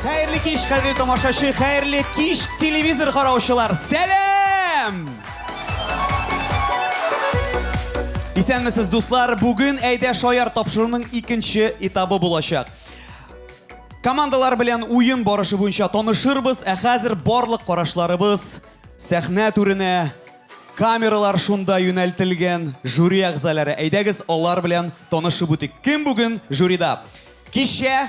Хәерле кич, хәерле тамашачы, хәерле кич, телевизор караучылар. Сәлам! Исәнмесез, дуслар. Бүген әйдә шаяр тапшыруның икенче этабы булачак. Командалар белән уен барышы буенча танышырбыз, ә хәзер барлык карашларыбыз сәхнә түренә камералар шунда юнәлтелгән жюри әгъзалары. Әйдәгез алар белән танышып үтик. Кем бүген жюрида? Кичә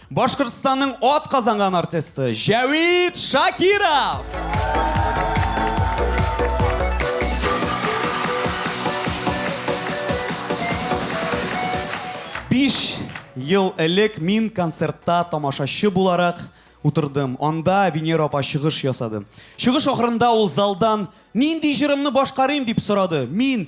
Башкортстанның ат казанган артисты Җәвит Шакиров! Биш ел элек мин концертта тамашачы буларак утырдым. Анда Венера апа чыгыш ясады. Чыгыш ахырында ул залдан нинди җырымны башкарыйм дип сорады. Мин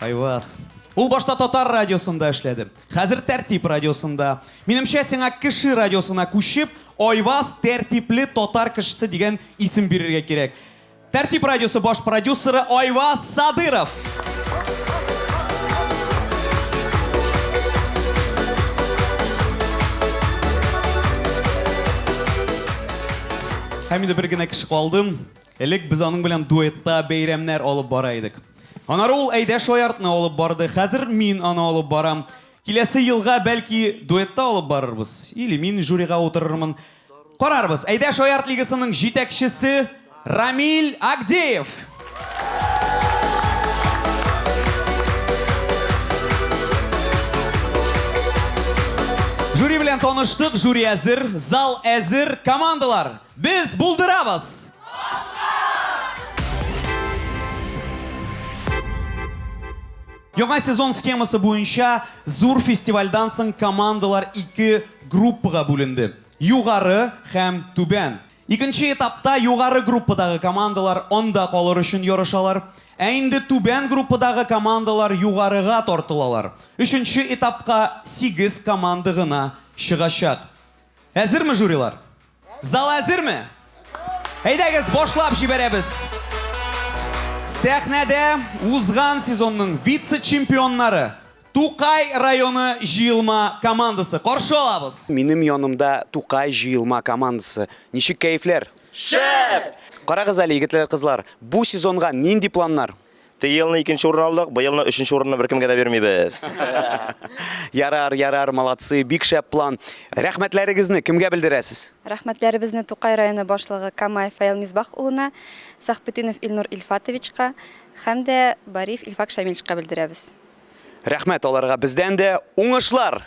Айваз. Ул башта татар радиосында эшләде. Хәзер Тәртип радиосында. Минемчә, сиңа кеше радиосына күчеп, Айваз тәртипле татар кешесе дигән исем бирергә кирәк. Тәртип радиосы баш продюсеры Айваз Садыров. Һәм инде бер генә кеше калдым. Элек без аның белән дуэтта бәйрәмнәр алып бара идек. Анары ул Әйдә шаяртны алып барды, хәзер мин аны алып барам. Киләсе елга, бәлки, дуэтта алып барырбыз. Или мин жюрига утырырмын. Карарбыз. Әйдә шаярт лигасының җитәкчесе Рамиль Агдеев. Жюри белән таныштык, жюри әзер, зал әзер, командалар! Без булдырабыз! Яңа сезон схемасы буенча зур фестивальдан соң командалар ике группага бүленде. Югары һәм Түбән. Икенче этапта югары группадагы командалар анда калыр өчен ярышалар. Ә инде түбән группадагы командалар югарыга тартылалар. Өченче этапка сигез команда гына чыгачак. Әзерме жюрилар? Зал әзерме? Әйдәгез, башлап җибәрәбез. Сәхнәдә узган сезонның вице-чемпионнары Тукай районы җыелма командасы. Каршы алабыз. Минем янымда Тукай җыелма командасы. Ничек кәефләр? Шәп! Карагыз әле, егетләр, кызлар, бу сезонга нинди планнар? Теге елны икенче урын алдык, быел елны өченче урынны беркемгә дә бирмибез. Ярар, ярар, молодцы, бик шәп план. Рәхмәтләрегезне кемгә белдерәсез? Рәхмәтләребезне Тукай районы башлыгы Камаев Фаил Мисбах улына, Сахбетдинов Илнур Илфатовичка һәм дә Бариев Илфак Шамильчка белдерәбез. Рәхмәт аларга бездән дә. Уңышлар!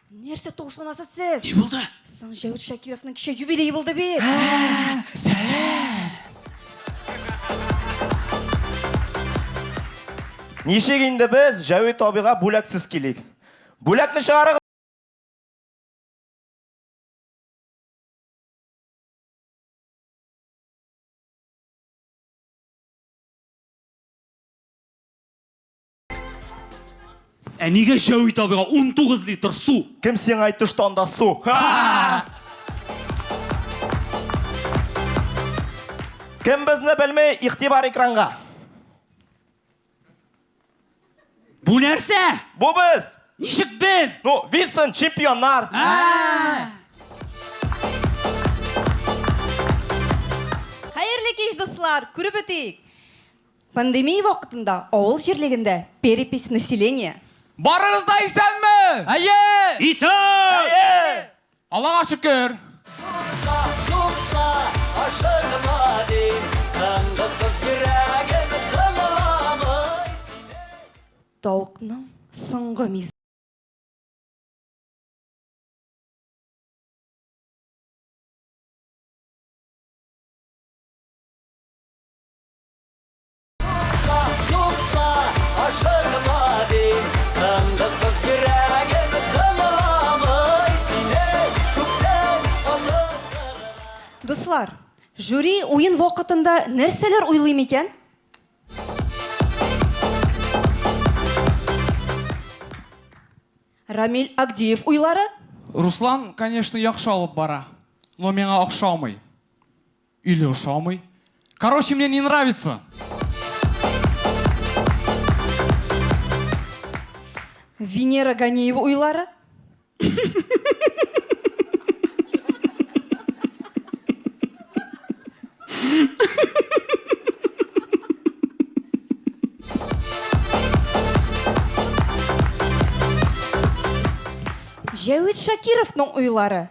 Нәрсә тавышланасыз сез? Ни булды? Соң Җәвит Шакировның кичә юбилее булды бит. Ничек инде без Җәвит абыйга бүләксез килик? Бүләкне чыгарыгыз! Ә нигә Җәүи табига 19 литр су? Кем сиңа әйтте, что анда су? Кем безне белми, игътибар экранга. Бу нәрсә? Бу без. Ничек без? Ну, Винсент, чемпионнар. Хәерле кич, дуслар! Күреп үтик! Пандемия вакытында авыл җирлегендә перепись населения. Барыгыз да исәнме? Әйе! Исән! Әйе! Аллага шөкер! Тукта, тукта, ашыкма, дим, тынгысыз йөрәгем тыңламый сине. Тавыкның соңгы мизгеле. Дуслар, жюри уен вакытында нәрсәләр уйлый микән? Рамиль Агдиев уйлары? Руслан, конечно, яхшы алып бара, но миңа охшамый. Или ошамый. Короче, мне не нравится. Венера Ганиева уйлары. Җәвит Шакировның уйлары.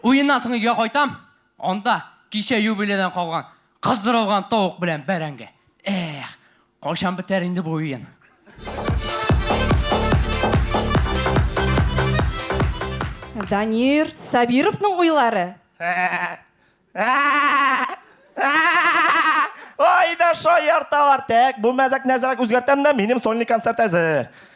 Уеннан соң өйгә кайтам. Анда кичә юбилейдан калган кыздырылган тавык белән бәрәңге. Эх, кайчан бетәр инде бу уен? Данир Сабировның уйлары. Ай да шаярталар. Тәк, бу мәзәкне әзрәк үзгәртәм дә, минем сольный концерт әзер.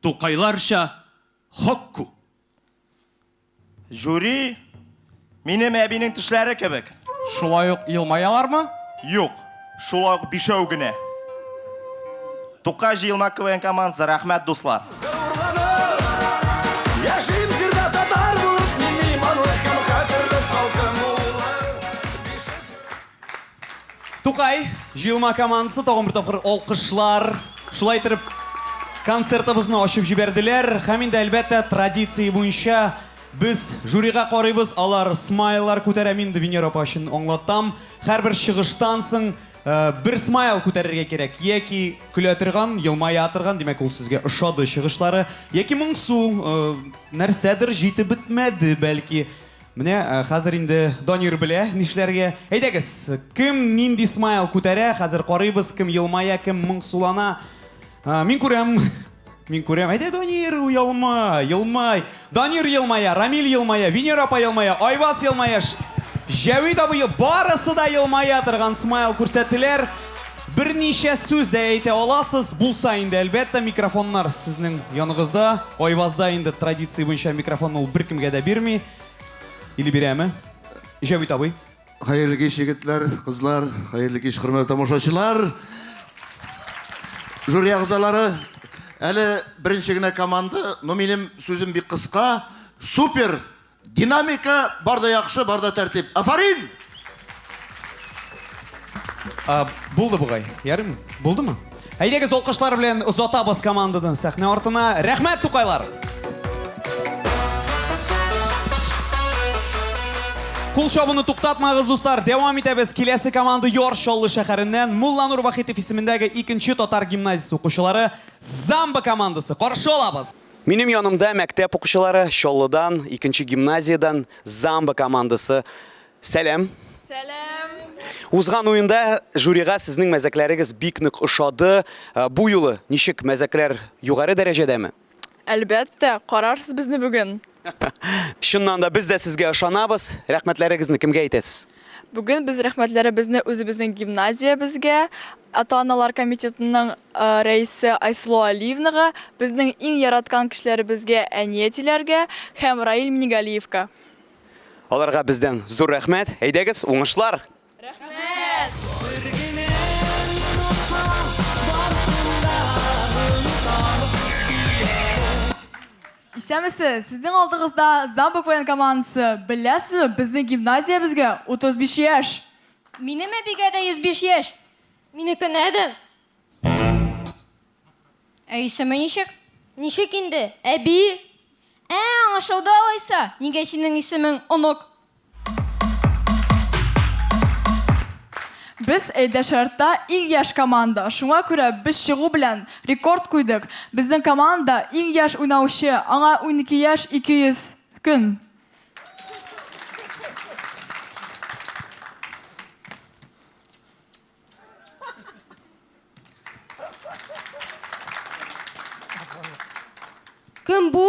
Тукайларча хокку. Жюри минем әбинең тешләре кебек. Шулай ук елмаялармы? Юк, шулай ук бишәү генә. Тукай җыелма КВН командасы, рәхмәт дуслар. Тукай җыелма командасы тагын бер тапкыр алкышлар. Шулай итеп, концертыбызны ачып җибәрделәр. Һәм инде әлбәттә традиция буенча без жюрига карыйбыз. Алар смайлар күтәрә. Мин инде Венера апа өчен аңлатам. Һәрбер чыгыштан соң э, бер смайл күтәрергә кирәк. Яки көлә торган, елмая торган, димәк ул сезгә ошады чыгышлары. Яки моңсу, э, нәрсәдер җитеп бетмәде бәлки. Менә хәзер инде Данир белә нишләргә. Әйдәгез, кем нинди смайл күтәрә, хәзер карыйбыз, кем елмая, кем моңсулана. Мин күрәм, мин күрәм. Әйдә, Данир, елма, елмай. Данир елмая, Рамил елмая, Венера апа елмая, Айваз елмая, Җәвит абый, барысы да елмая торган смайл күрсәттеләр. Берничә сүз дә әйтә аласыз булса инде, әлбәттә, микрофоннар сезнең яныгызда. Айвазда инде традиция буенча микрофонны ул беркемгә дә бирми. Или бирәме? Җәвит абый. Хәерле кич, егетләр, кызлар, хәерле кич, хөрмәтле тамашачылар. Жюри әгъзалары, әле беренче генә команда, но минем сүзем бик кыска. Супер! Динамика, бар да яхшы, бар да тәртип. Афарин! А, булды бугай. Ярым, булдымы? Әйдәгез алкышлар белән озатабыз командадан сәхнә артына. Рәхмәт, тукайлар! Кул чабуны туктатмагыз, дуслар. Дәвам итәбез. Киләсе команда Яр Чаллы шәһәреннән Мулланур Вахитов исемендәге икенче татар гимназиясе укучылары Замба командасы. Каршы алабыз. Минем янымда мәктәп укучылары Чаллыдан, икенче гимназиядән Замба командасы. Сәлам. Сәлам. Узган уенда жюрига сезнең мәзәкләрегез бик нык ошады. Э, бу юлы ничек мәзәкләр югары дәрәҗәдәме? Әлбәттә, карарсыз безне бүген. Чыннан да без дә сезгә ышанабыз. Рәхмәтләрегезне кемгә әйтәсез? Бүген без рәхмәтләребезне үзебезнең гимназиябезгә, ата-аналар комитетының Рәисе Айсылу Алиевнага, безнең иң яраткан кешеләребезгә, әни әтиләргә һәм Раил Минигалиевка. Аларга бездән зур рәхмәт. Әйдәгез, уңышлар! Рәхмәт! Бер генә нота, барсын да онытабыз дияр. Исәнмесез! Сезнең алдыгызда Замбук воен командасы. Беләсезме, безнең гимназиябезгә 35 яшь! Минем әбигә дә 105 яшь! Минеке нәдә? Ә исеме ничек? Ничек инде, әби? Ә, аңлашылды алайса, нигә синең исемең Онык? Без Әйдәшәртта иң яшь команда, шуңа күрә без чыгу белән рекорд куйдык. Безнең командада иң яшь уйнаучы, аңа унике яшь 200 көн. Кем бу?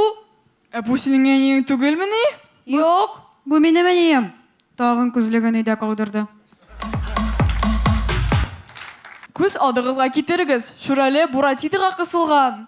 Ә бу синең әниең түгелмени? Юк. Бу минем әнием. Тагын күзлеген өйдә калдырды. Күз адыгызга китерегез, Шүрәле Буратидога кысылган.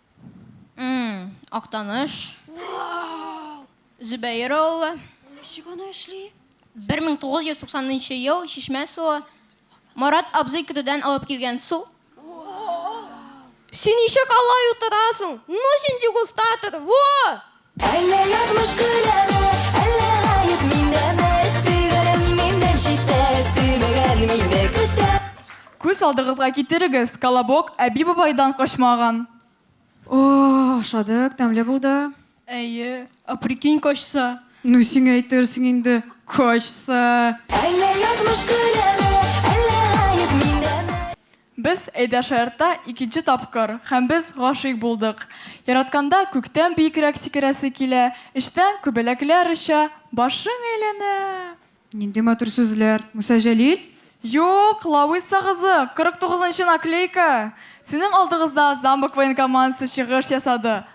Актаныш. Зөбәер авылы. Ничек аны эшли? 1990 ел чишмә суы. Марат абзый көтүдән алып килгән су. Син ничек алай утырасың? Ну син дегустатор, во! Әллә язмыш көләме, әллә гаеп миндәме, Сөйгәнем миннән читтә, сөймәгән мине көтә. Күз алдыгызга китерегез, Колобок әби-бабайдан качмаган. О-о-о, ашадык, тәмле булды. Әйе, ә прикинь, качса? Ну, сиңа әйтерсең инде, качса! Әллә язмыш көләме, әллә гаеп миндәме? Без Әйдәшаертта икенче тапкыр, һәм без гашыйк булдык. Яратканда күктән биекрәк сикерәсе килә, эчтән күбәләкләр оча, башың әйләнә. Нинди матур сүзләр, Муса Җәлил! Юк, Лауиса кызы, 49 нчы наклейка! Сезнең алдыгызда Замок военкомандасы чыгыш ясады,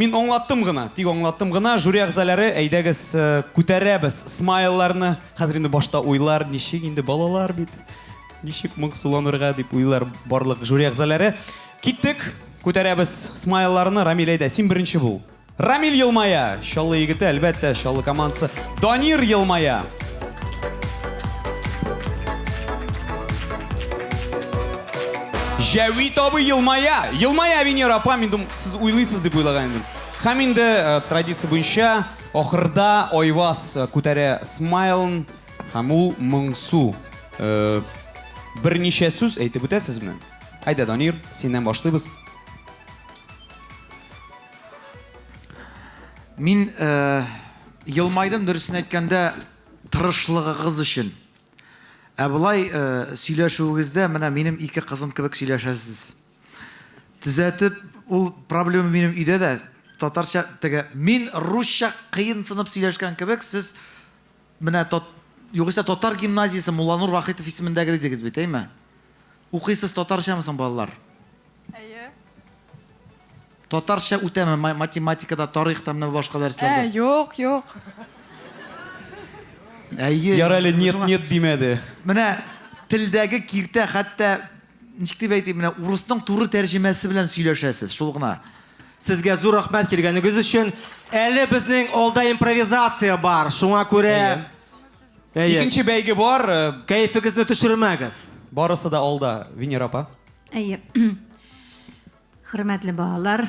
Мин аңлаттым гына, тик аңлаттым гына. Жюри әгъзаләре, әйдәгез, күтәрәбез смайлларны. Хәзер инде башта уйлар, ничек инде балалар бит, ничек моңсуланырга дип уйлар барлык жюри әгъзаләре. Киттек, күтәрәбез смайлларны. Рамил, әйдә, син беренче бул. Рамил елмая. Чаллы егете, әлбәттә, Чаллы командасы. Данир елмая. Җәвит абый елмая. Елмая, Венера апа, мин думаю, Сез уйлыйсыз дип уйлаган идем. Һәм инде э, традиция буенча ахырда Айваз э, күтәрә смайлын һәм ул моңсу. Э, берничә сүз әйтеп үтәсезме? Әйдә, Данир, синнән башлыйбыз. Мин э, елмайдым дөресен әйткәндә тырышлыгыгыз өчен. Ә болай э, сөйләшүегездә менә минем ике кызым кебек сөйләшәсез. Төзәтеп, ул проблема минем өйдә дә, татарча теге, мин русча кыенсынып сөйләшкән кебек, сез менә тот, югыйсә татар гимназиясе Мулланур Вахитов исемендәге дидегез бит, әйме? Укыйсыз татарчамы соң, балалар? Әйе. Татарча үтәме ма- математикада, тарихта, менә башка Ә, дәресләрдә? юк, юк. Әйе. Ярар әле, нет, Шуңа- нет димәде. Менә телдәге киртә хәтта Ничек дип әйтим, менә урысның туры тәрҗемәсе белән сөйләшәсез, шул гына. Сезгә зур рәхмәт килгәнегез өчен. Әле безнең алда импровизация бар, шуңа күрә... Әйе. Икенче бәйге бар. Э, Кәефегезне төшермәгез. Барысы да алда, Венера апа. Әйе. Хөрмәтле балалар,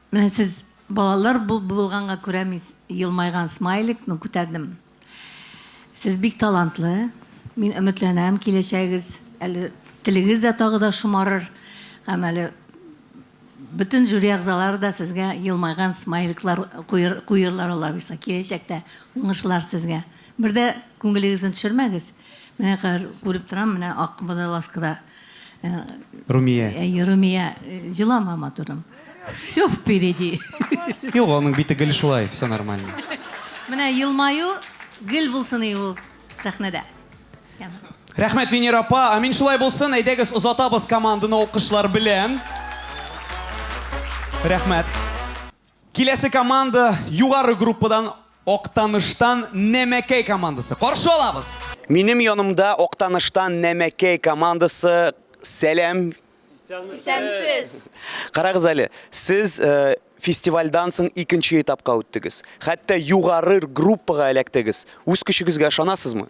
менә сез балалар булганга күрә мин елмайган смайликны күтәрдем. Сез бик талантлы, мин өметләнәм, киләчәгегез әле телегез дә тагы да шомарыр, һәм әле бөтен жюри әгъзалары да сезгә елмайган смайликлар куер, куерлар алабыйса, киләчәктә уңышлар сезгә. Бер дә күңелегезне төшермәгез. Менә хәзер күреп торам, менә ак водолазкада. Э, Румия. Э, э, Румия, җылама матурым. Все впереди. Юк, аның бите гел шулай, все нормально. Менә елмаю гел булсын и ул сәхнәдә. Рәхмәт, Венера апа. Амин шулай булсын. Әйдәгез, озатабыз команданы алкышлар белән. Рәхмәт. Киләсе команда югары группадан Актаныштан Нәмәкәй командасы. Каршы алабыз. Минем янымда Актаныштан Нәмәкәй командасы. Сәлам. Исәнмесез. Карагыз әле, сез э, фестивальдан соң икенче этапка үттегез. Хәтта югары группага эләктегез. Үз көчегезгә ышанасызмы?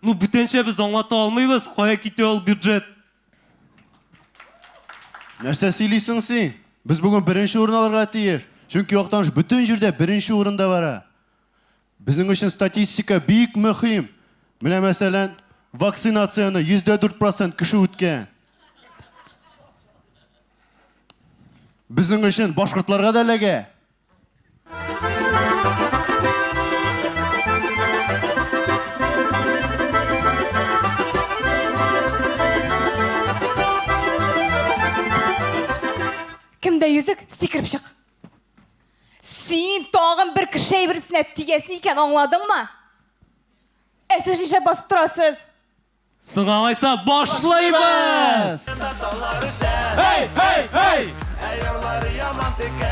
Ну, бүтәнчә без аңлата алмыйбыз, кая китә ул бюджет. Нәрсә сөйлисең син? Без бүген беренче урын алырга тиеш. Чөнки Актаныш бөтен җирдә беренче урында бара. Безнең өчен статистика бик мөһим. Менә мәсәлән, вакцинацияне 4% кеше үткән. Безнең өчен башкортларга да эләгә. Кемдә йөзек? Сикереп чык. Син тагын бер кеше әйберсенә тиясе икән, аңладыңмы? Ә сез нишләп басып торасыз? Соң алайса башлыйбыз! Эй, эй, эй! Әйорлары яман текә,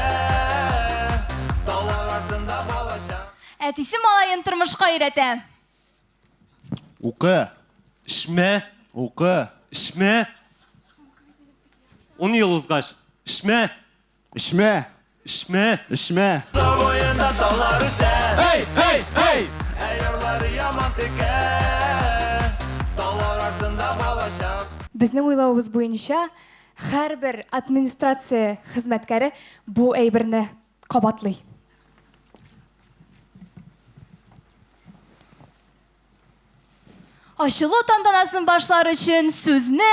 талар артында балача. Әтисе малаен тормышка өйрәтә. Укы. Эшмә. Укы. Эшмә. Ун ел узгач, эшмә. Эчмә! Эчмә! Эчмә! Тау буенда таулар үсә. Эй, эй, эй! Ә ярлары яман текә. Таулар артында балачак. Безнең уйлавыбыз буенча, һәрбер администрация хезмәткәре бу әйберне кабатлый. Ачылу тантанасын башлар өчен сүзне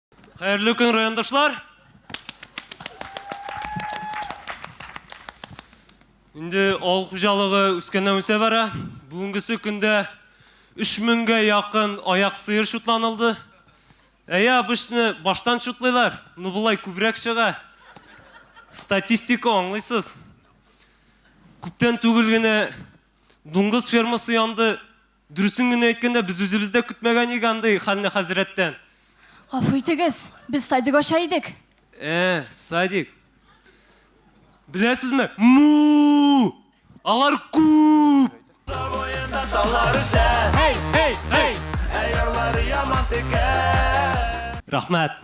Хәерле көн, райондашлар! Инде авыл хуҗалыгы үскәннән үсә бара. Бүгенгесе көндә 3000гә якын аяк сыер шутланылды. Әйе, обычны баштан шутлыйлар, ну болай күбрәк чыга. Статистика аңлыйсыз. Күптән түгел генә дуңгыз фермасы янды, Дөресен генә әйткәндә, без үзебез дә көтмәгән идек андый хәлне хәзрәттән. Гафу итегез, без садик ача идек. Ә, садик. Беләсезме, му! Алар күп! Әй, әй, әй! Рәхмәт!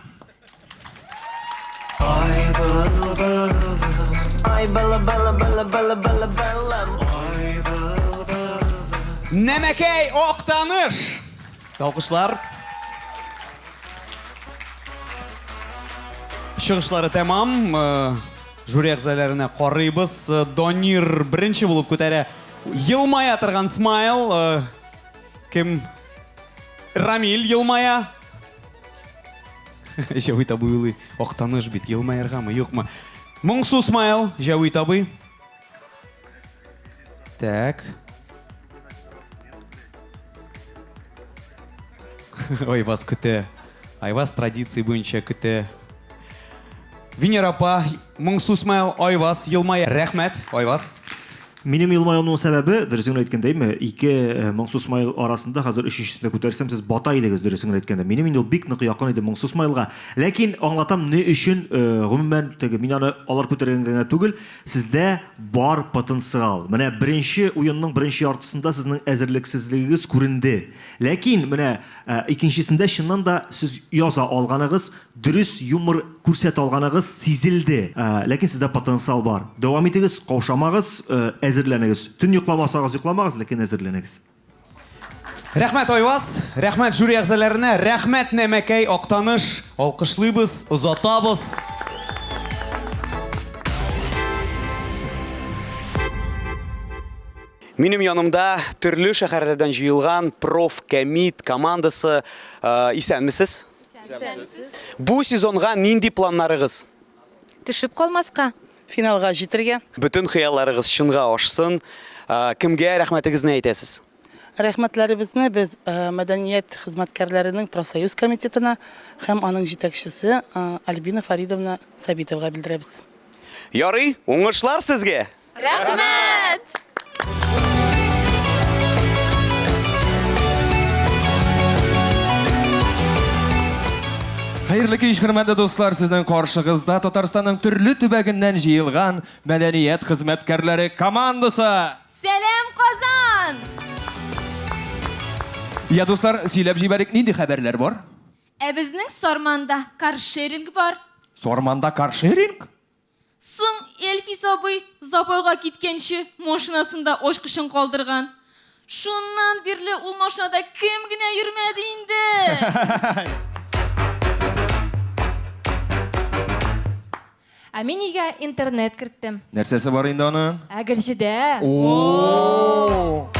Нәмәкәй Октаныш! Алкышлар. Чыгышлары тәмам. Э, жюри әгъзаларына карыйбыз. Э, Донир беренче булып күтәрә. Елмая торган смайл. Э, кем? Рамиль елмая. Җәвит абый улый, актаныш бит, елмаяргамы, юкмы? Моңсу смайл, Җәвит абый. Так. Ой, вас көтә. Айваз традиции буенча көтә. Венера апа, Моңсу смайл Айваз елмая. Рәхмәт, Айваз. Минем елмаюымның сәбәбе, дөресен генә әйткәндәйме, ике Моңсу смайл арасында хәзер өченчесен дә күтәрсәм, сез бата идегез, дөресен генә әйткәндә. Минем инде ул бик нык якын иде Моңсу смайлга. Ләкин аңлатам ни өчен, гомумән, теге, мин аны алар күтәргәнгә генә түгел, сездә бар потенциал. Менә беренче уенның беренче яртысында сезнең әзерлексезлегегез күренде. Ләкин менә икенчесендә чыннан да сез яза алганыгыз, Дөрес юмор күрсәтә алганыгыз сизелде, ләкин сездә потенциал бар. Дәвам итегез, каушамагыз, әзерләнегез. Төн йокламасагыз йокламагыз, ләкин әзерләнегез. Рәхмәт Айваз, рәхмәт жюри әгъзаләренә, рәхмәт Нәмәкәй, Актаныш! Алкышлыйбыз, озатабыз! Минем янымда төрле шәхәрләрдән җыелган профкәмит командасы. Исәнмесез! Сәнсез. Бу сезонга нинди планнарыгыз? Төшеп калмаска. Финалга җитергә. Бөтен хыялларыгыз чынга ашсын. Кемгә рәхмәтегезне әйтәсез? Рәхмәтләребезне без мәдәният хезмәткәрләренең профсоюз комитетына һәм аның җитәкчесе Альбина Фаридовна Сабитовага белдерәбез. Ярый, уңышлар сезгә! Рәхмәт! Хәерле кич, хөрмәтле дуслар, сезнең каршыгызда Татарстанның төрле төбәгеннән җыелган мәдәният хезмәткәрләре командасы. Сәлам, Казан! Я, дуслар, сөйләп җибәрик, нинди хәбәрләр бар? Ә безнең Сарманда каршеринг бар. Сарманда каршеринг? Соң Эльфис абый запойга киткәнче машинасында ачкычын калдырган. Шуннан бирле ул машинада кем генә йөрмәде инде! Ә мин өйгә интернет керттем. Нәрсәсе бар инде аның? Әгерҗедә. О-о-о!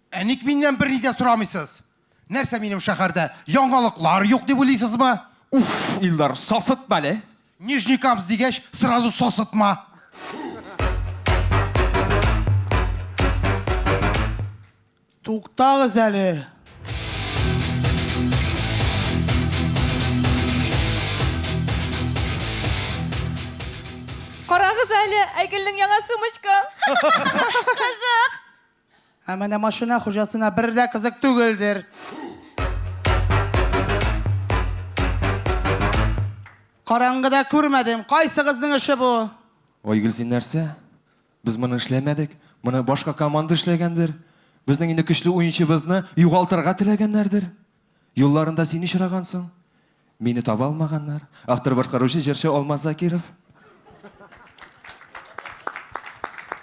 Ә ник миннән берни дә сорамыйсыз? Нәрсә минем шәһәрдә яңалыклар юк дип уйлыйсызмы? Уф, Илдар, сасытма әле. Нижний Камс дигәч, сразу сасытма. Туктагыз әле. Карагыз әле, Айгөлнең яңа сумочка. Кызык! Ә менә машина хуҗасына бер дә кызык түгелдер. Караңгыда күрмәдем, кайсыгызның эше бу? Айгөл, син нәрсә? Без моны эшләмәдек, моны башка команда эшләгәндер. Безнең инде көчле уенчыбызны югалтырга теләгәннәрдер. Юлларында син очрагансың, мине таба алмаганнар. Автор башкаручы җырчы Алмаз Закиров.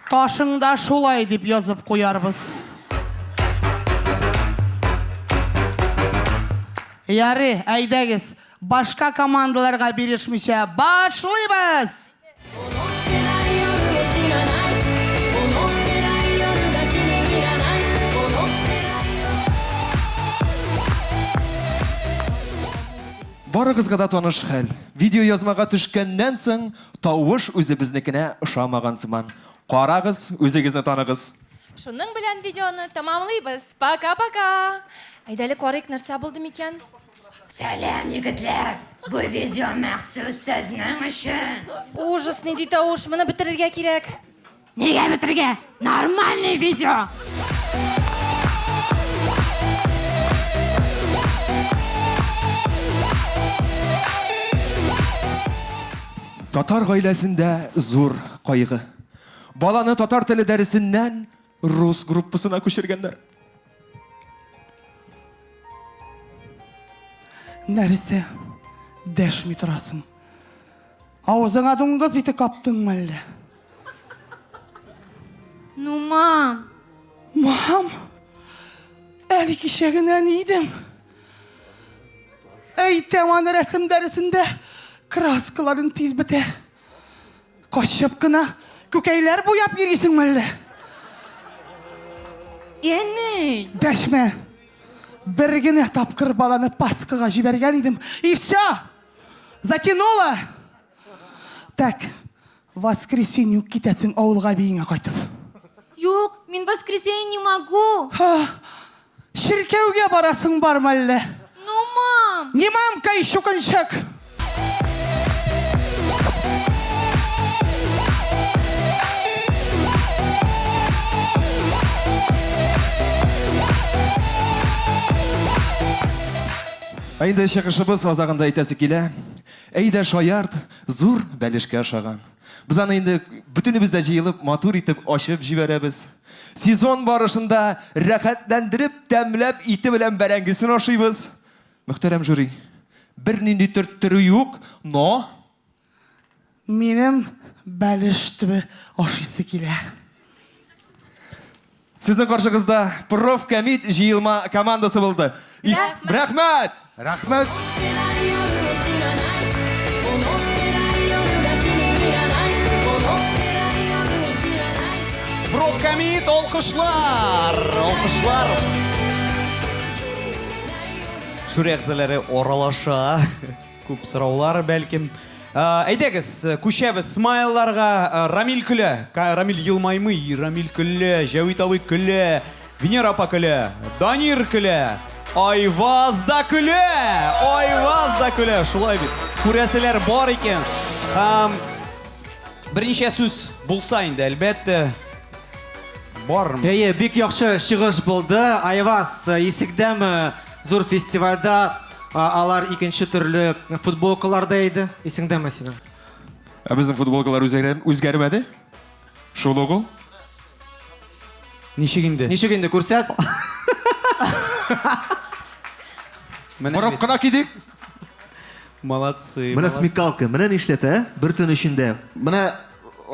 Ташыңда шулай дип язып куярбыз. Ярый, әйдәгез, башка командаларга бирешмичә башлыйбыз! Барыгызга да таныш хәл. Видеоязмага төшкәннән соң, тавыш үзебезнекенә ошамаган сыман. Карагыз, үзегезне таныгыз. Шуның белән видеоны тәмамлыйбыз. Пока-пока! Әйдә әле карыйк, нәрсә булды микән? Сәлам, егетләр! Бу видео махсус сезнең өчен! Ужас, нинди тавыш, моны бетерергә кирәк. Нигә бетерергә? Нормальный видео! Татар гаиләсендә зур кайгы. Баланы татар теле дәресеннән Рус группасына күчергәннәр. Нәрсә? Дәшми торасың. Авызыңа дуңгыз ите каптыңмы әллә? Ну, мам. Мам? Әле кичә генә ни идең? Әйтәм аны рәсем дәресендә краскаларын тиз бетә. Качып кына күкәйләр буяп йөрисеңме әллә? Әни! Дәшмә! Бер генә тапкыр баланы Пасхага җибәргән идем, и все! Затянуло! Так, воскресенье үк китәсең авылга биеңә кайтып. Юк, мин воскресенье не могу. Ха, Чиркәүгә барасың бармы әллә? Ну, мам! Не мамка и чукынчык! Ә инде чыгышыбыз азагында әйтәсе килә. Әйдә шаярт, зур бәлешкә ошаган. Без аны инде бөтенебез дә җыелып матур итеп ачып җибәрәбез. Сезон барышында рәхәтләндереп, тәмләп, ите белән бәрәңгесен ашыйбыз. Мөхтәрәм жюри, бернинди төрттерү юк, но... Минем бәлеш төбе ашыйсы килә. Сезнең каршыгызда профкомит җыелма командасы булды. Рәхмәт! Рәхмәт! Профкомит алкышлар! Алкышлар! Жюри әгъзалары аралаша. Күп сораулар, бәлкем. Әйдәгез, күчәбез смайларга. Рамил көлә. Рамил елмаймый, Рамил көлә. Җәвит абый көлә. Венера апа көлә, Данир көлә, Айваз да көлә! Айваз да көлә! Шулай бит. Күрәселәр бар икән. Һәм берничә сүз булса инде, әлбәттә, бармы? Әйе, бик яхшы чыгыш булды. Айваз, исекдәме зур фестивальдә алар икенче төрле футболкаларда иде. Исеңдәме синең? Ә безнең футболкалар үзгәрмәде? Шул ук ул? Ничек инде? Ничек инде, күрсәт. Борып кына кидик. Молодцы. Менә смекалка, менә нишләтә, ә? Бер төн эчендә. Менә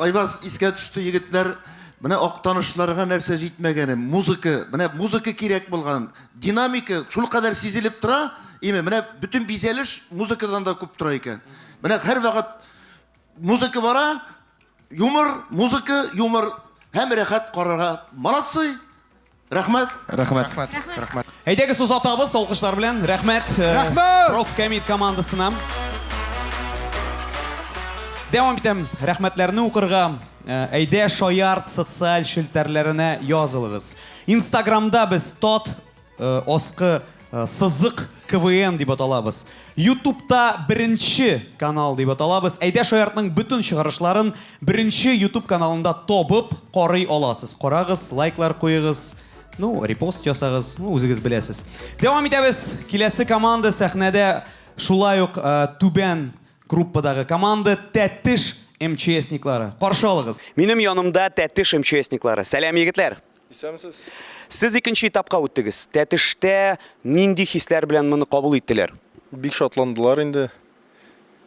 Айваз искә төште, егетләр. Менә актанышларга нәрсә җитмәгәне, музыка, менә музыка кирәк булган, динамика шул кадәр сизелеп тора, име, менә бөтен бизәлеш музыкадан да күп тора икән. Менә һәрвакыт Музыка бара, юмор, музыка, юмор һәм рәхәт карарга. Молодцы! Рәхмәт! Рәхмәт! Рәхмәт! Рәхмәт! Әйдәгез сус атабыз, алкышлар белән. Рәхмәт! Э, Рәхмәт! Проф Кәмит командасына. Дәвам итәм, рәхмәтләрне укырга. Э, әйдә шаярт социаль челтәрләренә язылыгыз. Инстаграмда без тот Аскы сызык КВН дип аталабыз. Ютубта беренче канал дип аталабыз. Әйдә Шаяртның бөтен чыгарышларын беренче Ютуб каналында табып карый аласыз. Карагыз, лайклар куегыз, ну, репост ясагыз, ну, үзегез беләсез. Дәвам итәбез. Киләсе команда сәхнәдә шулай ук түбән группадагы команда Тәтеш МЧСниклары. Каршы алыгыз. Минем янымда Тәтеш МЧСниклары. Сәлам, егетләр! Исәнмесез. Сез икенче этапка үттегез. Тәтештә нинди хисләр белән моны кабул иттеләр? Бик шатландылар инде.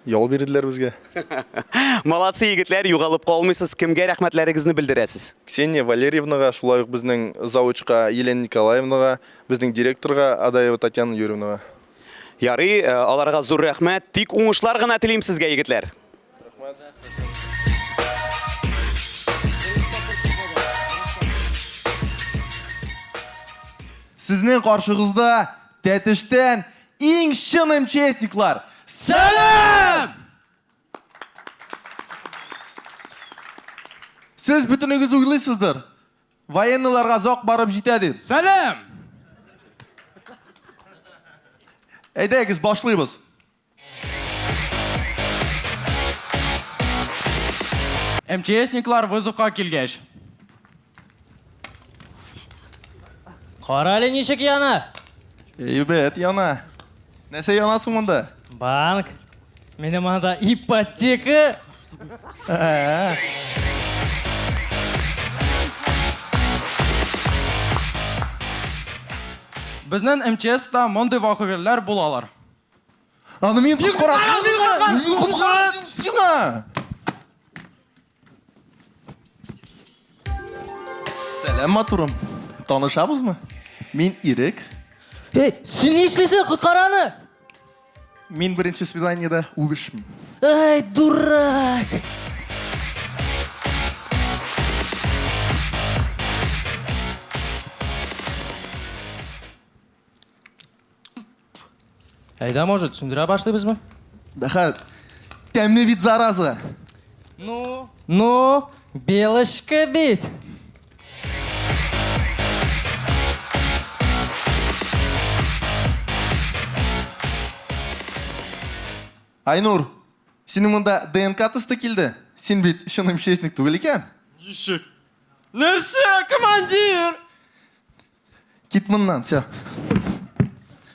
Ял бирделәр безгә. Молодцы, егетләр, югалып калмыйсыз. Кемгә рәхмәтләрегезне белдерәсез? Ксения Валерьевнага, шулай ук безнең завучка Елена Николаевнага, безнең директорга Адаева Татьяна Юрьевнага. Ярый, э, аларга зур рәхмәт. Тик уңышлар гына телим сезгә, егетләр. Сезнең каршыгызда Тәтештән иң чын МЧСниклар. Сәлам! Сез бөтенегез уйлыйсыздыр. Военныйларга зак барып җитә дип. Сәлам! Әйдәгез, башлыйбыз. МЧСниклар вызовка килгәч. Карале ничек яна? Әйбәт яна. Нәрсә яна соң монда? Банк. Минем анда ипотека. Безнен МЧСта мондый вакыгельләр булалар. Аны мин коткарам. Мин коткарам. Мин коткарам. Сиңа. Сәлам матурым. Танышабызмы? Мин Ирек. Эй, син ни эшлисең, коткараны? Мин беренче свиданиедә үбешмим. Эй, дурак! Әйдә, может, сүндерә башлыйбызмы? Дәхәт. Тәмле бит зараза. Ну, ну, белочка бит. Айнур, синең монда ДНК тесты килде. Син бит чын МЧСник түгел икән. Ничек? Нәрсә, командир? Кит моннан, все.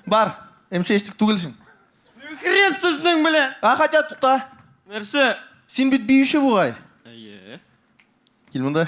Бар, эмше эштик түгел син. Хрен сезнең белән! А, хотя тута. Нәрсә? Син бит биюче бугай. Әйе. Кил монда.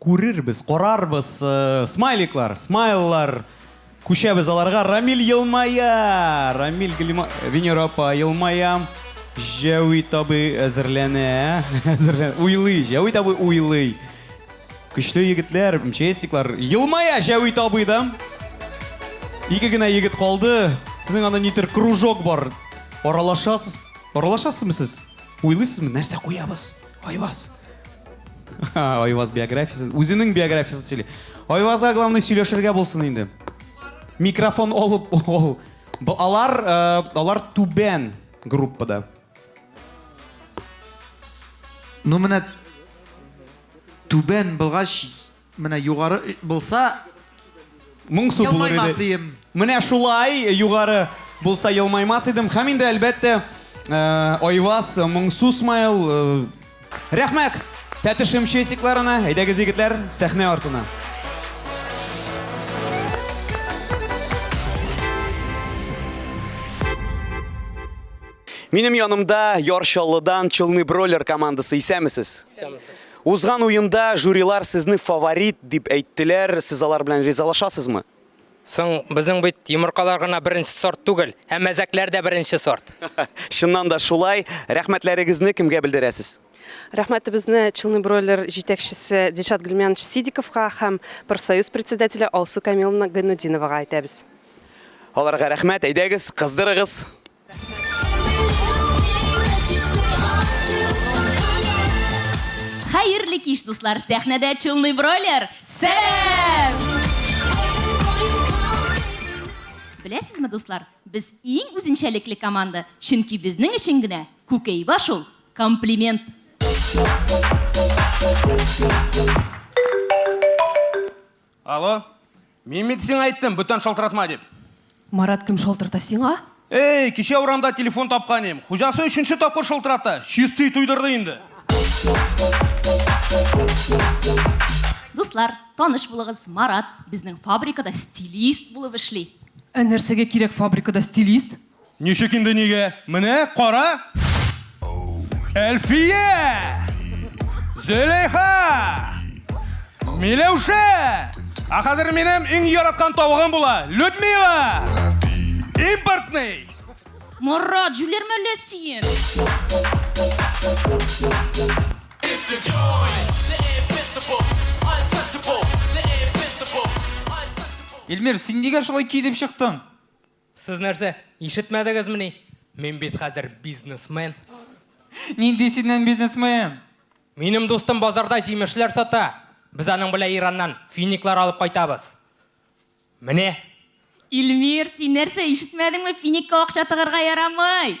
Күрербез, карарбыз, смайликлар, смайллар, күчәбез аларга. Рамил елмая! Рамил, Гөлима, Венера апа елмая. Җәвит абый әзерләнә. Әзерләнә. Уйлый, Җәвит абый уйлый. Көчле егетләр, МЧСниклар. Елмая Җәвит абый да. Ике генә егет калды. Сезнең анда нидер кружок бар. Аралашасыз. Аралашасызмы сез? Уйлыйсызмы, нәрсә куябыз? Айваз. Айваз биографиясе. Үзенең биографиясын сөйли. Айвазга главный сөйләшергә булсын инде. Микрофон алып ул. Алар, э, алар түбән группада. Ну менә түбән булгач Менә югары булса, Моң су булыр елмаймас иде. ием. Менә шулай югары булса елмаймас идем. Һәм инде әлбәттә Айваз Моңсу смайл. Рәхмәт Тәтешем честикларына. Әйдәгез егетләр сәхнә артына. Минем янымда Яр Чаллыдан Челны Бройлер командасы. Исәнмесез. Исәнмесез. Узган уенда жюрилар сезне фаворит дип әйттеләр, сез алар белән ризалашасызмы? Соң, безнең бит йомыркалар гына беренче сорт түгел, ә мәзәкләр дә беренче сорт. Чыннан да шулай. Рәхмәтләрегезне кемгә белдерәсез? Рәхмәтебезне Челны бройлер җитәкчесе Дилшат Гөлмянович Сидиковка һәм профсоюз председателе Алсу Камиловна Гайнутдиновага әйтәбез. Аларга рәхмәт. Әйдәгез, кыздырыгыз. Хәерле кич, дуслар! Сәхнәдә Челный Бройлер! Сәлам! Беләсезме, дуслар, без иң үзенчәлекле команда, чөнки безнең өчен генә Күкәйба шул комплимент. Алло, мин бит сиңа әйттем, бүтән шалтыратма дип. Марат кем шалтырта сиңа? Эй, кичә урамда телефон тапкан идем. Хуҗасы өченче тапкыр шалтырата. Чистый туйдырды инде. Дуслар, таныш булыгыз, Марат безнең фабрикада стилист булып эшли. Ә нәрсәгә кирәк фабрикада стилист? Ничек инде нигә? Менә кара! Әлфия! Зөләйха! Миләүшә! А хәзер минем иң яраткан тавыгым була. Людмила! Импортный! Марат, җүләрмә әллә син? Илмир, син нигә шулай киенеп чыктың? Сез нәрсә, ишетмәдегезмени? Мин бит хәзер бизнесмен. Нинди синнән бизнесмен? Минем дустым базарда җимешләр сата. Без аның белән Ираннан финиклар алып кайтабыз. Менә. Илмир, син нәрсә, ишетмәдеңме, финикка акча тыгырга ярамый!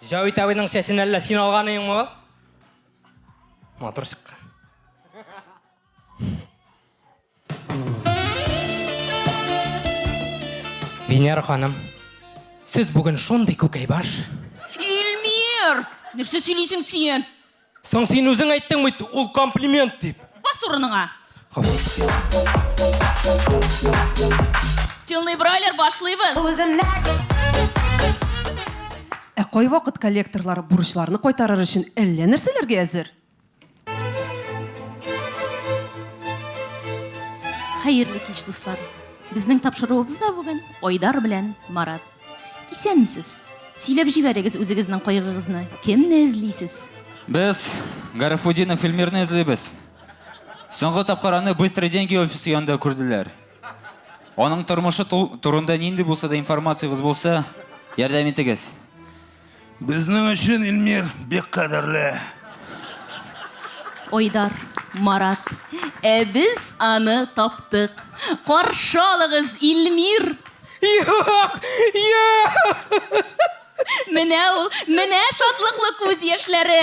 Җавит абыйның чәчен әллә син алганыйңмы ул? Матур чыккан. Венера ханым, сез бүген шундый күкәйбаш. Илмир! Нәрсә сөйлисең син? Соң син үзең әйттең бит, ул комплимент дип. Бас урыныңа. Чынлый бройлер башлыйбыз. Ә кайвакыт коллекторлар бурычларны кайтарыр өчен әллә нәрсәләргә әзер. Хәерле кич, дуслар! Безнең тапшыруыбыз да бүген Айдар белән Марат. Исәнмесез. Сөйләп җибәрегез үзегезнең кайгыгызны. Кемне эзлисез? Без Гарифудинов Эльмирны эзлибез. Соңгы тапкыр аны Быстрый деньги офисы янында күрделәр. Аның тормышы турында нинди булса да информациягез булса, ярдәм итегез. Безнең өчен Илмир бик кадерле. Айдар, Марат, ә без аны таптык. Каршы алыгыз, Илмир! Юк! Юк! Менә ул, менә шатлыклы күз яшьләре!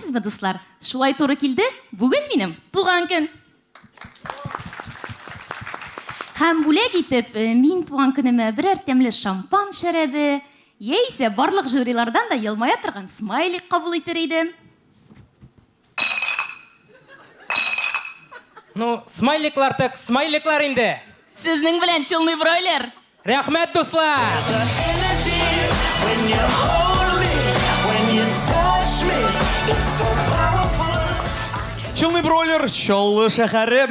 Сезме, дуслар, шулай туры килде, бүген минем туган көн. Һәм бүләк итеп, э, мин туган көнемә берәр тәмле шампан шәрәбе, яисә барлык жюрилардан да елмая торган смайлик кабул итер идем. Ну, смайликлар так смайликлар инде. Сезнең белән чулный бройлер. Рәхмәт дуслар! Бройлер, Чаллы шәһәре.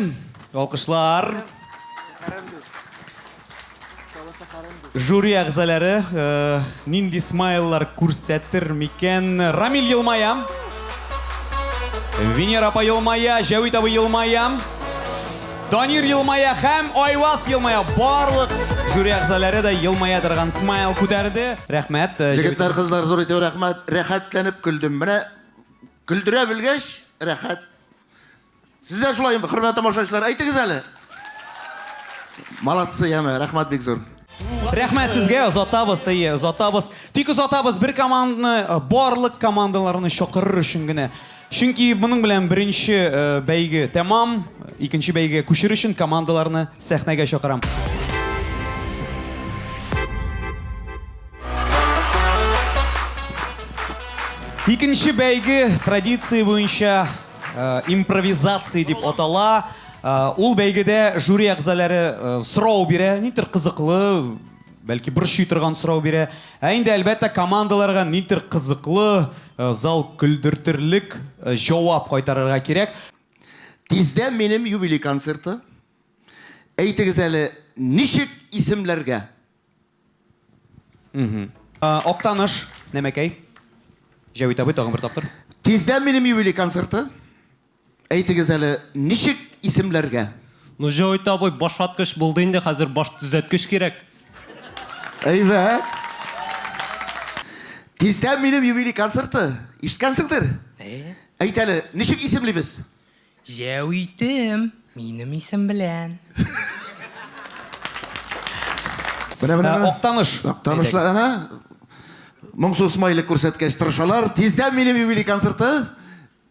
Алкышлар. Жюри әгъзалары нинди смайллар күрсәтер микән? Рамил елмая. Венера апа елмая, Җәвит абый елмая. Данир елмая һәм Айваз елмая. Барлык жюри әгъзаләре дә елмая торган смайл күтәрде. Рәхмәт. э, җыр Егетләр, кызлар, зур итеп рәхмәт. Рәхәтләнеп көлдем. Менә көлдерә белгәч, рәхәт. Сез дә шулаймы, хөрмәтле тамашачылар? Әйтегез әле. Молодцы, яме, рәхмәт бик зур. Рәхмәт сезгә, озатабыз, әйе, озатабыз. Тик озатабыз бер команданы, э, барлык командаларны чакырыр өчен генә. Чөнки моның белән беренче э, бәйге тәмам, икенче бәйгегә күчер өчен командаларны сәхнәгә чакырам. Икенче бәйге традиция буенча Импровизация дип атала. Ул бәйгедә жюри әгъзалары сорау бирә, нидер кызыклы, бәлки борчый торган сорау бирә. Ә инде әлбәттә командаларга нидер кызыклы, зал көлдертерлек җавап кайтарырга кирәк. Тиздән минем юбилей концерты. Әйтегез әле, ничек исемләргә? Актаныш, Нәмәкәй. Җәвит абый, тагын бер тапкыр. Тиздән минем юбилей концерты. Әйтегез әле, ничек исемләргә? Ну, Җәвит абый, башваткыч булды инде, хәзер баш төзәткеч кирәк. Әйбәт. Тиздән минем юбилей концерты. Ишеткәнсеңдер? Әйт әле, ничек исемлибез? Җәвитем, минем исем белән. Менә, менә, менә. Актаныш. Актанышлар, әнә, моңсу смайлик күрсәткәч тырышалар. Тиздән минем юбилей концерты.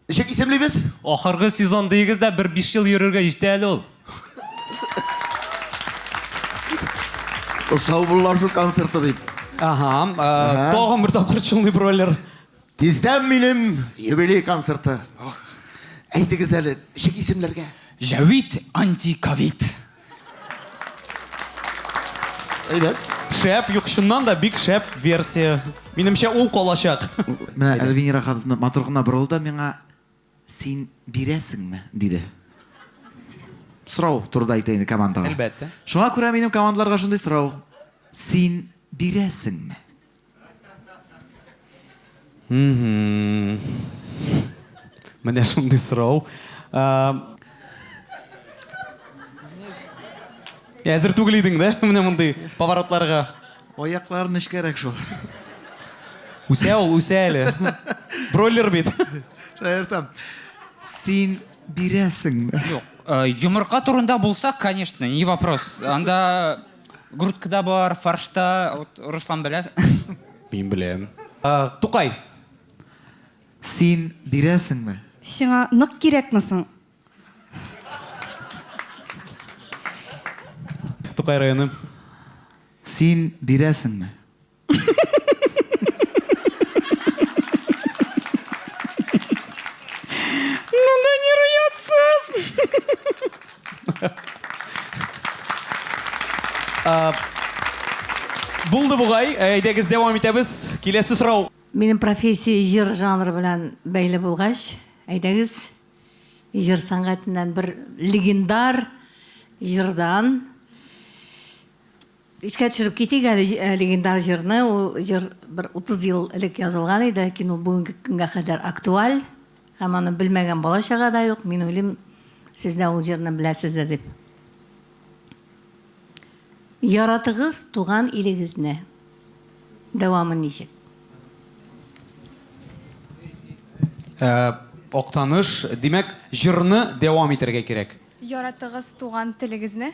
Ничек исемлибез? Ахыргы сезон диегез дә, бер биш ел йөрергә җитә әле ул. Саубуллашу концерты дип. Аһа, тагын бер тапкыр чулный бройлер. Тиздән минем юбилей концерты. Әйтегез әле, ничек исемләргә? Җәвит антиковид. Әйдә. Шәп, юк, чыннан да бик шәп версия. Минемчә, ул калачак. Менә Эльвира хатыны матур гына борылды миңа. Син бирәсеңме? диде. Сорау турыда әйтә инде командага. Әлбәттә. Шуңа күрә минем командаларга шундый сорау. Син бирәсеңме? Менә шундый сорау. Әзер түгел идең дә менә мондый поворотларга. Аяклар нечкәрәк шул. Үсә ул, үсә әле. Бройлер бит. Шаяртам. Син бирәсеңме? Юк. Э, йомырка турында булса, конечно, не вопрос. Анда грудкада бар, фаршта, вот Руслан белә. Мин беләм. Э, Тукай. Син бирәсеңме? Сиңа нык кирәкме соң? Тукай районы. Син бирәсеңме? Булды бугай, әйдәгез дәвам итәбез. Киләсе сорау. Минем профессия җыр жанры белән бәйле булгач, әйдәгез, Җыр сәнгатеннән бер легендар җырдан искә төшереп китик әле э, легендар җырны. Ул җыр бер 30 ел элек язылган иде, ләкин ул бүгенге көнгә кадәр актуаль. Һәм аны белмәгән бала чага да юк. Мин уйлыйм, сез дә ул җырны беләсездер дип. Яратыгыз туган илегезне. Дәвамы ничек? Актаныш, димәк, җырны дәвам итәргә кирәк. Яратыгыз туган телегезне.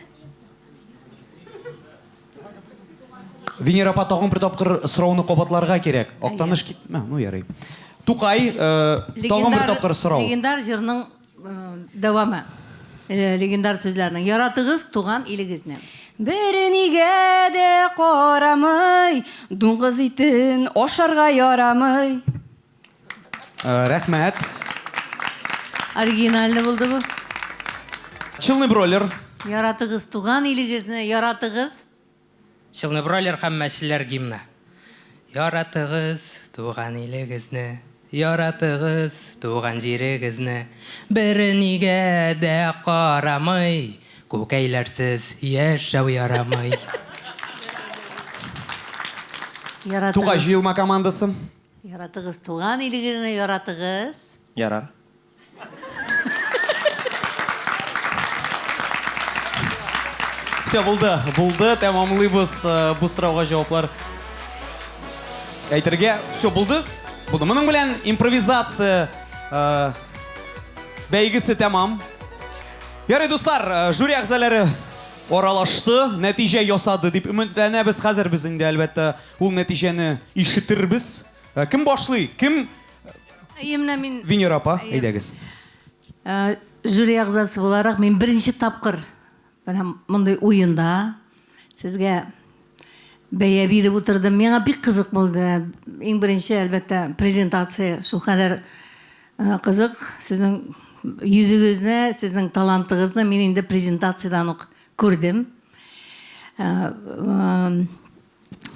Венера апа, тагын бер тапкыр сорауны кабатларга кирәк. Актаныш кит, ну ярый. Тукай, тагын бер тапкыр сорау. Легендар җырның Дәвамы легендар сүзләрнең. Яратыгыз туган илегезне. Бернигә дә карамый, дуңгыз итен ашарга ярамый. Рәхмәт. Оригинальный булды бу. Челный бройлер. Яратыгыз туган илегезне, яратыгыз. Челнебройлер һәм мәчеләр гимны. Яратыгыз туган илегезне, Яратыгыз туган җирегезне, Бернигә дә карамый, Күкәйләрсез яшәү ярамый. Яратыгыз. Тукай җыелма командасы. Яратыгыз туган илегезне, Яратыгыз. Ярар. Все, булды, булды, тәмамлыйбыз э, бу сорауга җаваплар әйтергә. Все, булды, булды. Моның белән импровизация э, бәйгесе тәмам. Ярый, дуслар, э, жюри әгъзалары аралашты, нәтиҗә ясады дип өметләнәбез. Хәзер без инде, әлбәттә, ул нәтиҗәне ишетербез. Э, кем башлый? Кем Әйе, менә мин Венера апа, Әйе. әйдәгез. Ә, жюри әгъзасы буларак мин беренче тапкыр менә мондый уенда сезгә бәя биреп утырдым. Миңа бик кызык булды. Иң беренче, әлбәттә, презентация шул кадәр э, кызык. Сезнең йөзегезне, сезнең талантыгызны мин инде презентациядән үк күрдем. Э, э,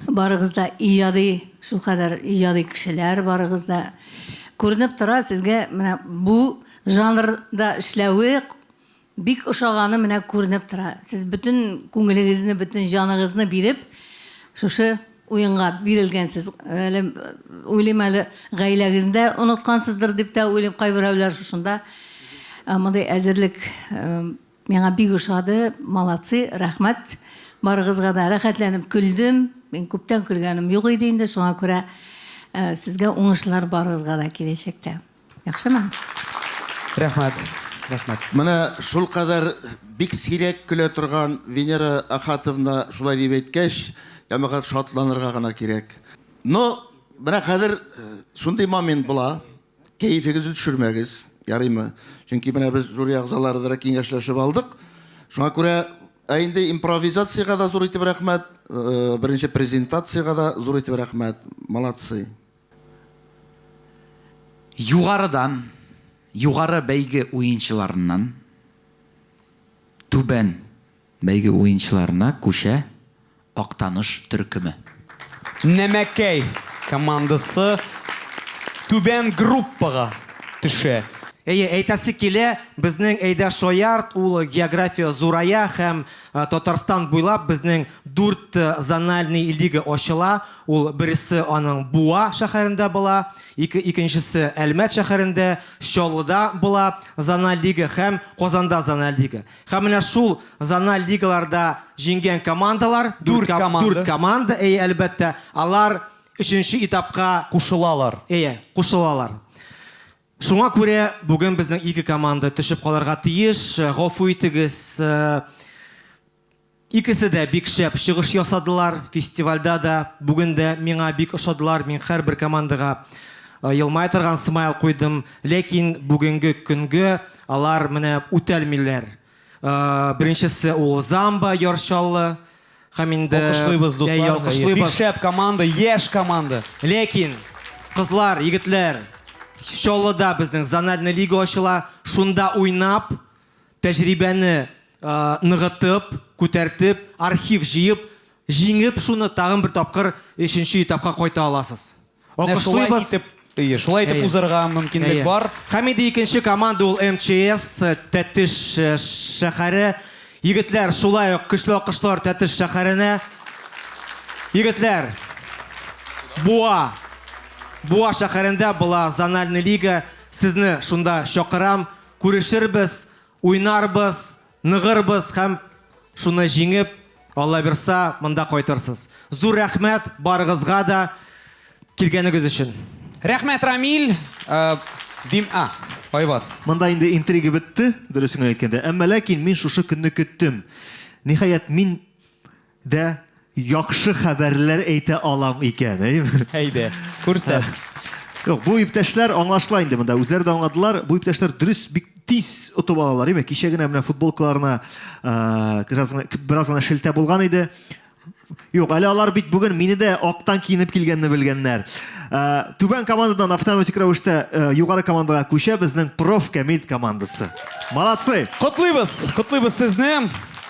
Барыгыз да иҗади, шул кадәр иҗади кешеләр барыгыз да. Күренеп тора, сезгә менә бу жанрда эшләве бик ошаганы менә күренеп тора. Сез бөтен күңелегезне, бөтен җаныгызны биреп, шушы уенга бирелгәнсез. Әле уйлыйм әле, гаиләгезне дә оныткансыздыр дип тә уйлыйм, кайберәүләр шушында мондый әзерлек Миңа бик ошады, молодцы, рәхмәт барыгызга да, рәхәтләнеп көлдем, мин күптән көлгәнем юк иде инде, шуңа күрә сезгә уңышлар барыгызга да киләчәктә. Яхшымы? Рәхмәт, рәхмәт. Менә шулкадәр бик сирәк көлә торган Венера Ахатовна шулай дип әйткәч, ямәгать шатланырга гына кирәк. Ну, менә хәзер шундый момент була. Кәефегезне төшермәгез, ярыймы? Чөнки менә без жюри әгъзалары да киңәшләшеп алдык. Шуңа күрә, ә инде импровизациягә дә зур итеп рәхмәт, беренче презентациягә дә зур итеп рәхмәт. Молодцы! Югарыдан, югары бәйге уенчыларыннан, түбән Бәйге уенчыларына күчә Актаныш төркеме. Нәмәкәй командасы түбән группага төшә. Әйе, әйтәсе килә, безнең Әйдә Шоярд, ул география зурая һәм Татарстан буйлап безнең дүрт зональный лига ачыла. Ул бересе аның Буа шәһәрендә була, ике икенчесе Әлмәт шәһәрендә, Чаллыда була зональ лига һәм Казанда зональ лига. Һәм менә шул зональ лигаларда җиңгән командалар, дүрт команда, дүрт команда, әйе, әлбәттә, алар өченче этапка кушылалар. Әйе, кушылалар. Шуңа күрә бүген безнең ике команда төшеп калырга тиеш. Гафу итегез, э, Икесе дә бик шәп чыгыш ясадылар фестивальдә дә, бүген дә миңа бик ошадылар, мин хәрбер командага елмая торган смайл куйдым, ләкин бүгенге көнгө алар менә үтәлмиләр. Беренчесе ул Замба Яр Чаллы һәм инде Алкышлыйбыз дуслар, әйе, бик шәп команда, яшь команда. Ләкин, кызлар, егетләр, Чаллыда безнең зональный лига ачыла, шунда уйнап, Тәҗрибәне ныгытып, күтәртеп, архив җыеп, җиңеп шуны тагын бер тапкыр өченче этапка кайта аласыз. Алкышлыйбыз. Әйе, шулай итеп узарга мөмкинлек бар. Һәм инде икенче команда ул МЧС, Тәтеш шәһәре. Егетләр, шулай ук көчле алкышлар Тәтеш шәһәренә. Егетләр, Буа, Буа шәһәрендә була зональный лига. Сезне шунда чакырам. Күрешербез, уйнарбыз, ныгырбыз һәм шуны җиңеп, Аллабирса, монда кайтырсыз. Зур рәхмәт барыгызга да килгәнегез өчен. Рәхмәт, Рамил. Э, дим, а, Айбас. Монда инде интрига бетте, дөресен генә әйткәндә. Әмма ләкин мин шушы көнне көттем. Ниһаять, мин Дә яхшы хәбәрләр әйтә алам икән, әйеме? Әйдә, күрсәт. Юк, бу иптәшләр аңлашыла инде монда. Үзләре дә аңладылар. Бу иптәшләр дөрес бик тиз отып алалар, әйеме? Кичә генә менә футболкаларына бераз бераз гына шелтә булган иде. Юк, әле алар бит бүген мине дә актан киенеп килгәнне белгәннәр. Түбән командадан автоматик рәвештә югары командага күчә безнең проф Камил командасы. Молодцы! Котлыйбыз! Котлыйбыз сезне!